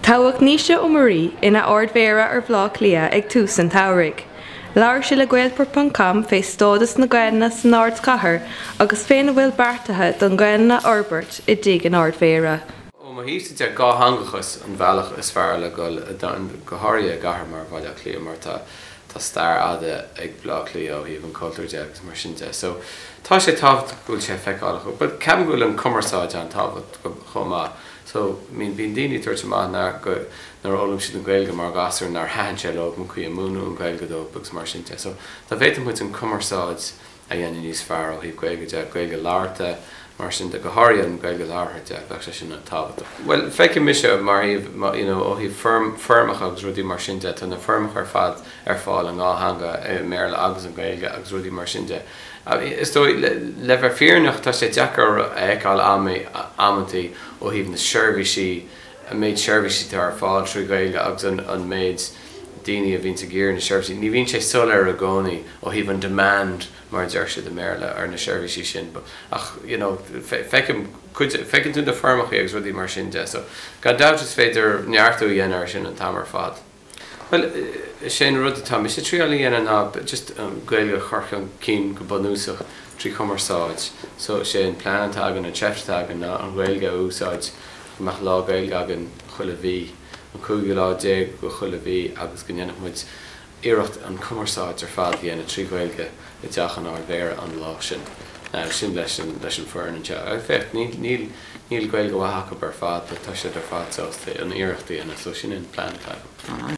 Toghadh Naoise Ó Muirí ina Ard-Mhéara ar Bhleá Cliath ag tús an tsamhraidh. Labhair sé le Gaelport ponc com fé stádas na Gaelainne san Ardchathair agus féna bhfuil beartaithe don Ghaelainn a fhorbairt i dTigh an Ardmhéara. Ó mo thaobhsa de, dhátheangachas an bhealach is fearr le dhul chun cinn go háirithe i gcathair mar Bhaile Átha Cliath mar tá Tá stair fhada ag Bleá Cliath ó thaobh an chultúir de agus mar sin de so tá sé tábhachtach go bhfuil sé feiceálach but ceapaim go bhfuil an cumarsáid an-tábhachtach chomh maith so I mean bíonn daoine ag tabhairt amach nár nár fhoghlaim siad an Ghaeilge mar ghasúir nár thaitin sé leo an chaoi a múineadh an Ghaeilge dóibh agus mar sin de so dá bhféadfadh muid an cumarsáid a dhéanamh níos fearr ó thaobh Gaeilge de, Gaeilge labhartha mar sin de, go háirithe an Ghaeilge labhartha de, bheadh sé sin an-tábhachtach. Bhuel, feicim mise mar thaobh, you know, ó thaobh foirm, foirmeacha agus rudaí mar sin de, tá na foirmeacha ar fad ar fáil i ndhá theanga, i mBéarla agus i nGaeilge agus rudaí mar sin de. Is dóigh, le, le bheith fírinneach, tá sé deacair a fheiceáil am, amanntaí ó thaobh na seirbhísí, an méid seirbhísí atá ar fáil trí Ghaeilge agus an méid daoine a bhíonns ag iarraidh na seirbhísí, ní bhíonn sé soiléir i gcónaí ó thaobh an demand, mar a deir siad i mBéarla, ar na seirbhísí sin but ach you know feicim cuid, feiceann tú na foirmeachaí agus rudaí mar sin de so gan dabht is féidir neartú a dhéanamh ar sin an t-am ar fad. Bhuel, sé an rud atá mise triáil a dhéanamh ná just Gaeilge a chur chun cinn go bunúsach trí chumarsáid so sé an plean atá againn, an tseift atá againn ná an Ghaeilge a úsáid, go mbeadh lá Gaeilge againn chuile mhí, an cúigiú lá déag de chuile mhí agus go ndéanfadh muid iarracht an chumarsáid ar fad a dhéanamh trí Ghaeilge i dteach an Ard Mhéara an lá sin. Sin leis an foireann anseo. Féach, níl. Níl Gaeilge mhaith acub ar fad but tá siad ar fad sásta an iarracht a dhéanamh so sin an plean atá agam.